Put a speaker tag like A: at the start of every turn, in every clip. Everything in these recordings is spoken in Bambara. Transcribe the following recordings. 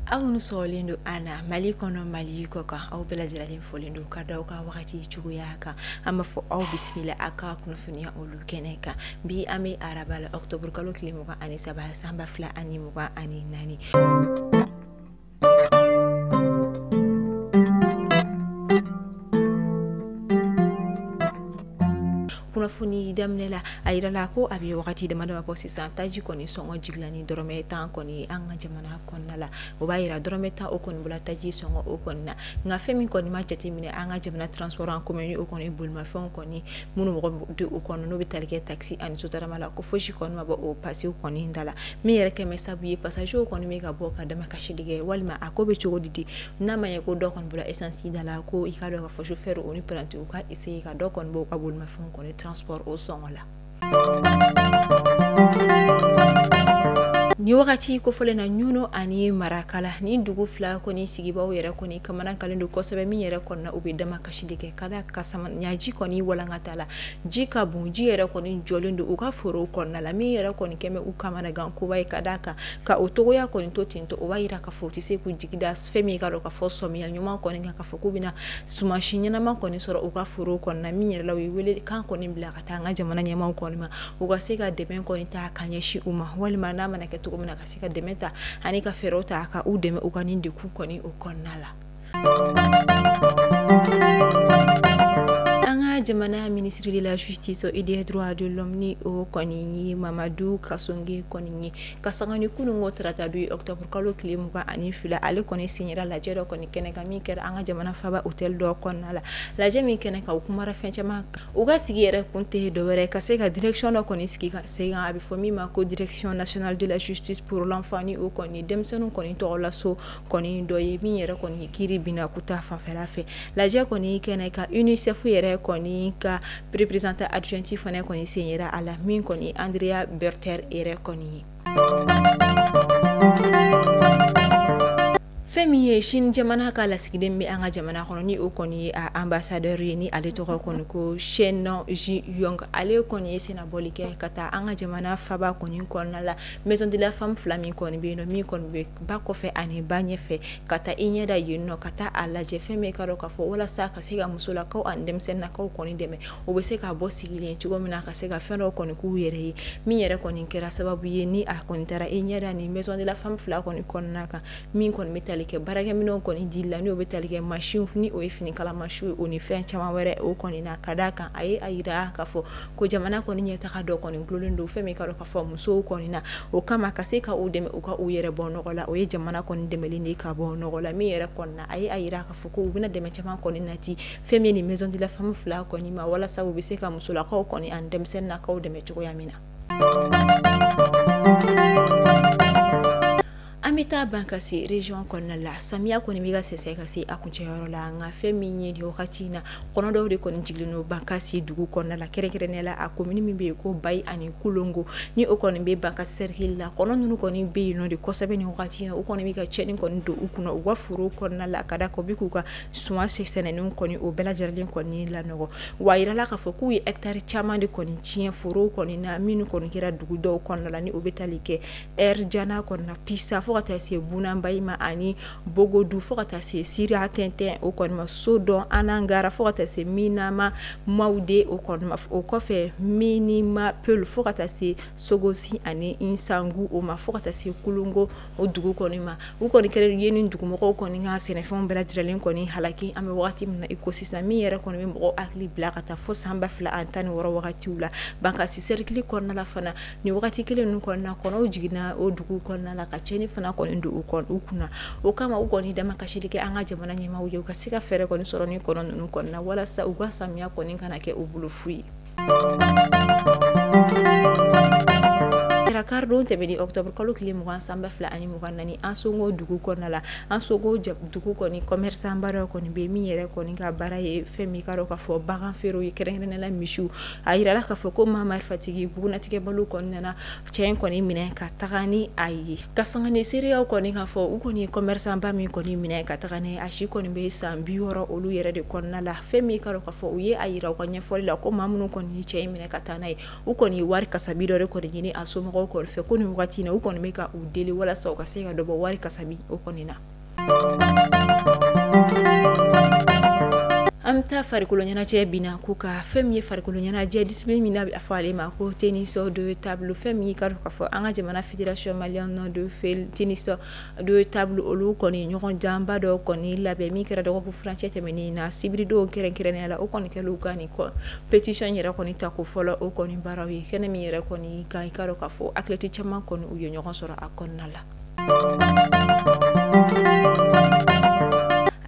A: aw minnu sɔgɔlen don an na mali kɔnɔ mali kɔkan aw bɛɛ lajɛlen folen don ka da aw ka wagati cogoya kan an b'a fɔ aw bisimila aw ka kunnafoniya olu kɛnɛ kan bi an bɛ araba la ɔkutɔburukalo tile mugan ani saba san ba fila ani mugan ani naani kunnafoni daminɛ la a yirala ko a bɛ wagati dama dama bɔ sisan taji kɔni sɔngɔ jigila ni dɔrɔmɛ tan kɔni an ka jamana kɔnɔna la o b'a yira dɔrɔmɛ tan o kɔni bɔla taji sɔngɔ o kɔni na nka fɛn min kɔni ma jateminɛ an ka jamana transport en commun o kɔni bolimafɛnw kɔni minnu mɔgɔ di u kɔnɔ n'o bɛ tali kɛ takisi ani sotarama la ko fosi kɔni ma bɔ o pasiw kɔni da la min yɛrɛ kɛlen bɛ sabu ye pasajew kɔni bɛ ka bɔ ka damakasi de kɛ walima a ko bɛ cogo di di n'a ma ye ko dɔ kɔni bɔla esansi da la ko i k'a dɔn k'a fɔ sofɛrɛw ni parantiw ka eseye ka dɔ kɔni bɔ u ka bolimafɛnw kɔni transport o sɔngɔ la nin wagati kofɔlen na ɲɔnɔn ani marakala nin dugu fila kɔni sigibaaw yɛrɛ kɔni kamanagannen don kosɛbɛ min yɛrɛ kɔnɔna u bɛ dama kasi de kɛ ka da kan samiɲaji kɔni walankatala ji ka bon ji yɛrɛ kɔni jɔlen don u ka forow kɔnɔna la min yɛrɛ kɔni kɛlen bɛ u kamanagan koba ye ka da kan ka o cogoya kɔni to ten to o b'a yira k'a fɔ u tɛ se k'u jigi da fɛn min k'a dɔn k'a fɔ samiya ɲuman kɔni kan k'a fɔ k'u bɛna sumansi ɲɛnama kɔni sɔrɔ u ka forow kɔnɔna min yɛrɛ la u ye welekan kɔni bila ka taa an ka jamana ɲɛmaw kɔni ma u ka se ka dɛmɛ kɔni ta ka ɲɛsin u ma walima n'a mana kɛ cogo min na ka se ka dɛmɛ ta ani ka fɛɛrɛw ta ka u dɛmɛ u ka nin degun kɔni o kɔnɔna la jamana ministre de la justice et des droits de l'homme ni o kɔni ye mamadu kasonge kɔni ye ka sanga ni kunun ko tarata don octobre kalo tile mugan ani fila ale kɔni sen yera lajɛ dɔ kɔni kɛnɛ kan min kɛra an ka jamana faba hôtel dɔ kɔnɔna la lajɛ min kɛnɛ kan u kumara fɛn caman kan u ka sigi yɛrɛ kun tɛ dɔwɛrɛ ka se ka direction dɔ kɔni sigi ka sen kan a bɛ fɔ min ma ko direction nationale de la justice pour l'enfant ni o kɔni denmisɛnninw kɔni tɔgɔ la so kɔni dɔ ye min yɛrɛ kɔni kiri bɛna k'u ta fanfɛla fɛ lajɛ kɔni kɛnɛ kan UNICEF yɛrɛ kɔni ka représentante adjointe fana kɔni sen yera a la min kɔni Andrea Berther yɛrɛ kɔni ye fɛn min ye Chine jamana ka lasigiden bɛ an ka jamana kɔnɔ ni o kɔni ye a ambassadeur ye ni ale tɔgɔ kɔni ko Chen Zhihong ale kɔni ye sennabɔli kɛ ka taa an ka jamana faaba kɔni kɔnɔna la maison de la femme fila min kɔni bɛ yen nɔ min kɔni bɛ ba kɔfɛ ani ba ɲɛfɛ ka taa i ɲɛ da yen nɔ ka taa a lajɛ fɛn min i k'a dɔn k'a fɔ walasa ka se ka musolakaw ani denmisɛnnakaw kɔni dɛmɛ o bɛ se ka bɔ sigilen cogo min na ka se ka fɛn dɔw kɔni k'u yɛrɛ ye min yɛrɛ kɔni kɛra sababu ye ni a kɔni taara i ɲɛ da ni maison de la femme fila kɔni kɔnɔna kan min kɔni bɛ tali kɛ baarakɛminɛnw kɔni di la n'o bɛ tali kɛ mansinw ni o ye finikala mansinw ye o ni fɛn caman wɛrɛ o kɔni na ka d'a kan a ye a jira k'a fɔ ko jamana kɔni ɲɛtaga dɔ kɔni dulolen don fɛn min i k'a dɔn k'a fɔ musow kɔni na o kama ka se ka u dɛmɛ u ka u yɛrɛ bɔ nɔgɔ la o ye jamana kɔni dɛmɛlen de ka bɔ nɔgɔ la min yɛrɛ kɔni na a ye a jira k'a fɔ ko u bɛna dɛmɛ caman kɔni nati fɛn min ni maison de la femme fila kɔni ma walasa u bɛ se ka musolakaw kɔni ani denmisɛnnakaw dɛmɛ cogoya min na An bɛ taa Bankasi region kɔnɔna la, samiya kɔni bɛ ka sɛsɛ ka se a kuncɛ yɔrɔ la, nka fɛn min ye nin wagati in na, kɔnɔ dɔw de kɔni jigilen don Bankasi dugu kɔnɔna la, kɛrɛnkɛrɛnnenya la a commune min bɛ yen ko Bayi ani Kolongo, ni o kɔni bɛ Bankasi cercle la, kɔnɔ ninnu kɔni bɛ yen nɔ de kosɛbɛ nin wagati in na, u kɔni bɛ ka tiɲɛni kɔni don u kunna u ka forow kɔnɔna la, ka d'a kan u bɛ k'u ka suman si sɛnɛnenw kɔni o bɛɛ lajɛlen kɔni lanɔgɔ, wa a jirala k'a fɔ k'u ye hectare caman de kɔni tiɲɛ forow kɔni na minnu kɔni kɛra dugu dɔw kɔnɔna na ni o bɛ tali kɛ Jana kɔnɔna Pisa fo ka taa se Bunaba ma ani Bogodu fo ka taa se Siratɛntɛn o kɔnɔ Sodɔn Anagara fo ka taa se Minima Mawude o o kɔfɛ Minima Peul fo ka taa se Sogosi ani Sinsagu o ma fo ka taa se Kolongo o dugu kɔni ma u kɔni kɛlen ye ni dugumɔgɔ kɔni ka sɛnɛfɛnw bɛɛ lajɛlen kɔni halaki an bɛ waati min i ko sisan min yɛrɛ kɔni bɛ mɔgɔ hakili bila ka taa fo san ba fila ani tan ni wɔɔrɔ wagati la Bankasi cercle kɔnɔna fana nin wagati kelen ninnu kɔni na kɔnɔw jiginna o dugu kɔnɔna la ka cɛni fana kɔni don u kɔnɔ u kunna o kama u kɔni damakasili kɛ an ka jamana ɲɛmaaw ye u ka se ka fɛɛrɛ kɔni sɔrɔ nin kɔnɔ ninnu kɔni na walasa u ka samiya kɔni kana kɛ u bolo fu ye karidon tɛmɛnen octobre kalo tile mugan san ba fila ani mugan naani Ansongo dugu kɔnɔna la Ansongo dugu kɔni commerçant ba dɔ kɔni bɛ yen min yɛrɛ kɔni ka baara ye fɛn min ye i k'a dɔn k'a fɔ bagan feerew ye kɛrɛnkɛrɛnnenya la misiw a jirala k'a fɔ ko maa marifatigi bugunnatigɛbaliw kɔni nana cɛ in kɔni minɛ ka taga ni a ye ka sanga ni seereyaw kɔni k'a fɔ u kɔni ye commerçant ba min kɔni minɛ ka taga ni a si kɔni bɛ san bi wɔɔrɔ olu yɛrɛ de kɔnɔna la fɛn min i k'a dɔn k'a fɔ u ye a yira u ka ɲɛfɔli la ko maa minnu kɔni ye cɛ in minɛ ka taa n'a ye u kɔni ye wari kasabi dɔ de kɔni ɲini a somɔgɔw kɔni fɛ ko nin wagati in na u kɔni bɛ ka u deli walasa u ka se ka dɔ bɔ wari kasabi o kɔni na an bɛ taa farikolo ɲɛnajɛ bin na ko ka fɛn min ye farikolo ɲɛnajɛ discipline min n'a bɛ fɔ ale ma ko tennis de table fɛn min ka dɔn ka fɔ an ka jamana fédération malienne de tennis de table olu kɔni ɲɔgɔndanba dɔ kɔni labɛn min kɛra dɔgɔkun furancɛ tɛmɛnen na sibiridon kɛrɛnkɛrɛnya la o kɔni kɛlen ka nin compétition yɛrɛ kɔni tako fɔlɔ o kɔni baaraw ye kɛnɛ min yɛrɛ kɔni kan i ka dɔn ka fɔ athlète caman kɔni u ye ɲɔgɔn sɔrɔ a kɔnɔna la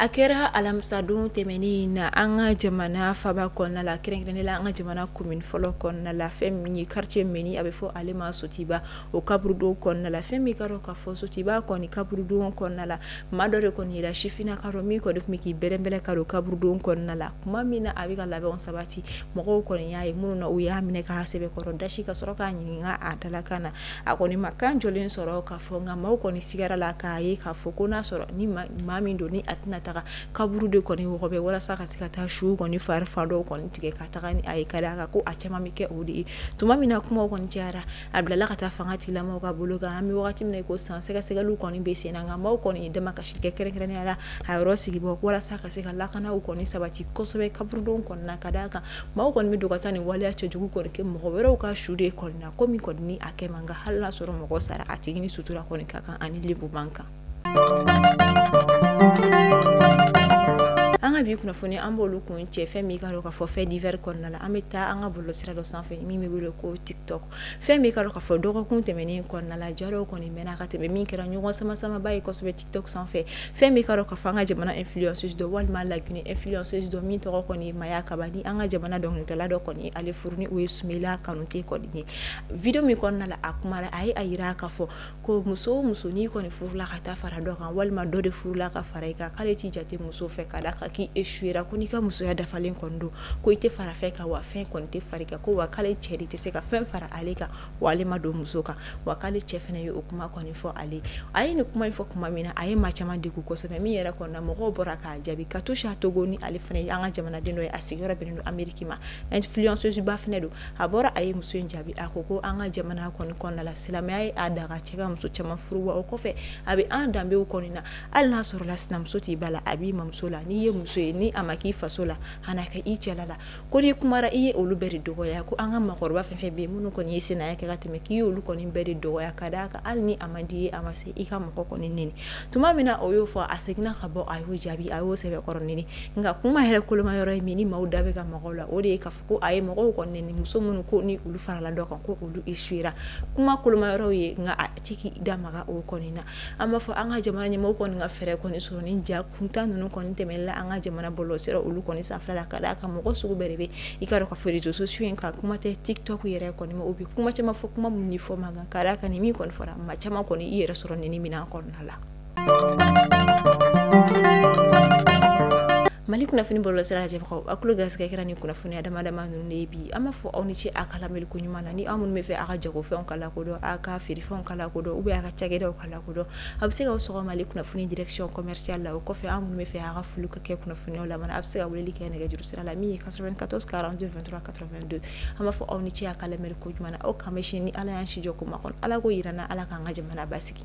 A: a kɛra alamisadon tɛmɛnen in na an ka jamana faba kɔnɔna la kɛrɛnkɛrɛnnen la an ka jamana komin fɔlɔ kɔnɔna la fɛn min ye quartier min ni a bɛ fɔ ale ma sotiba o kaburudon kɔnɔna la fɛn min ka dɔn k'a fɔ sotiba kɔni kaburudon kɔnɔna la maa dɔ de kɔni yera sifina ka dɔn min kɔni tun bɛ k'i bɛrɛbɛrɛ ka don kaburudon kɔnɔna la tuma min na a bɛ ka labɛnw sabati mɔgɔw kɔni y'a ye minnu na u y'a minɛ k'a sɛbɛkɔrɔ dasi ka sɔrɔ k'a ɲininka a dalakan na a kɔni ma kan jɔlen sɔrɔ ka fɔ nka maaw kɔni sigara la k'a ye k'a fɔ ko n'a sɔrɔ ni maa min don ni a tɛna taga kaburu de kɔni wɔgɔbɛ walasa ka se ka taa su kɔni fari fan dɔw kɔni tigɛ ka taga ni a ye ka d'a kan ko a caman bɛ kɛ o de ye tuma min na kuma kɔni cayara a bilala ka taa fangatigilamɔgɔw ka bolo kan an bɛ waati min na ko san sɛgɛsɛgɛli kɔni bɛ sen na nka maaw kɔni ye damakasi kɛ kɛrɛnkɛrɛnya la a yɔrɔ sigibaaw walasa ka se ka lakanaw kɔni sabati kosɛbɛ kaburudon kɔnɔna ka d'a kan maaw kɔni bɛ don ka taa nin waleya cɛjugu kɔni kɛ mɔgɔ wɛrɛw ka su de kɔnɔna ko min kɔni ni a kɛ man kan hali n'a sɔrɔ mɔgɔ sara a tigi ni sutura kɔni ka kan ani lebu man kan an ka bi kunnafoni an b'olu kuncɛ fɛn min ka dɔn k'a fɔ faits divers kɔnɔna la an bɛ taa an ka bɔlɔlɔsira dɔ sanfɛ min bɛ wele ko tiktok fɛn min ka dɔn k'a fɔ dɔgɔkun tɛmɛnen kɔnɔna la ja dɔw kɔni mɛnna ka tɛmɛ min kɛra ɲɔgɔn sama samaba ye kosɛbɛ sanfɛ fɛn min ka dɔn k'a fɔ an ka jamana influenceuse dɔ walima laginɛ influenceuse dɔ min tɔgɔ kɔni ye maya kaba ni an ka jamana dɔnkilila dɔ kɔni ye ale furu ni o ye sumayila kanute kɔni ye video min kɔnɔna na a kuma a ye a jira k'a fɔ ko muso o muso n'i kɔni furula ka taa fara dɔ kan walima dɔ de furula ka fara i kan k'ale t'i jate muso fɛ ka d'a kan k'i échouera ko n'i ka musoya dafalen kɔni don ko i tɛ fara fɛn kan wa fɛn kɔni tɛ fara i kan ko wa k'ale cɛ de tɛ se ka fɛn fara ale kan wa ale ma don muso kan wa k'ale cɛ fana ye o kuma kɔni fɔ ale a ye nin kuma in fɔ tuma min na a ye maa caman degun kosɛbɛ min yɛrɛ kɔnɔna mɔgɔw bɔra k'a jaabi katusha togo ni ale fana ye an ka jamanaden dɔ ye a sigiyɔrɔ bɛnnen don ameriki ma influenceuse ba fana don a bɔra a ye muso in jaabi a ko ko an ka jamana kɔni kɔnɔna la silamɛya ye a daga cɛ ka muso caman furu wa o kɔfɛ a bɛ an danbew kɔnɔna na hali n'a sɔrɔ la sinamuso t'i ba la a b'i mamuso la n'i ye muso ye ni a ma k'i faso la a na k'i cɛla la ko n'i kumara i ye olu bɛɛ de dɔgɔya ko an ka makɔrɔba fɛn fɛn bɛ yen minnu kɔni ye sinaya kɛ ka tɛmɛ k'i ye olu kɔni bɛɛ de dɔgɔya ka d'a kan hali ni a man di i ye a ma se i ka mɔgɔ kɔni neni tuma min na o y'o fɔ a seginna ka bɔ a y'o jaabi a y'o sɛbɛkɔrɔ neni nka kuma yɛrɛ koloma yɔrɔ ye min ni maaw da bɛ ka maga o la o de ye k'a fɔ ko a ye mɔgɔw kɔni neni muso minnu ko ni olu farala dɔ kan ko olu échouera kuma koloma yɔrɔ ye nka a tɛ k'i da maga o kɔni na an b'a fɔ an ka jamana ɲɛmɔgɔw kɔni ka fɛɛrɛ kɔni sɔrɔ ni ja kuntan ninnu kɔni tɛmɛla an ka jamana bɔlɔlɔsira olu kɔni sanfɛ la ka d'a kan mɔgɔ sugu bɛɛ de bɛ i ka dɔn ka fɔ réseaux sociaux in kan kuma tɛ tiktok yɛrɛ kɔni ma o bɛ kuma caman fɔ kuma minnu fɔ man kan ka d'a kan ni min kɔni fɔra maa caman kɔni i yɛrɛ sɔrɔ nin minɛn kɔnɔna la mali kunnafoni bɔlɔlɔsira lajɛbagaw a tulo garisɛgɛ kɛra ni kunnafoniya dama dama ninnu de ye bi an b'a fɔ aw ni ce a ka lamɛli ko ɲuman na ni aw minnu b'a fɛ a ka jagofɛnw ka lakodɔn a ka feerefɛnw kodɔn u bɛ a ka cakɛdaw ka lakodɔn a bɛ se ka sɔgɔma kunnafoni dikisiy kɔmɛsiya la o kɔfɛ an minnu bɛ fɛ a ka foli ka kɛ kunnafoniw la a bɛ se ka wuli kɛ nɛgɛjuru sira la min ye ka katɔ karanfɛntura ka don an b'a fɔ aw ni ce a ka lamɛnri ko jumɛn aw ka mɛn ni ala y'an sijɔ ko ma kɔnɔ ala ko jira n' ala k'an ka jamana ba sigi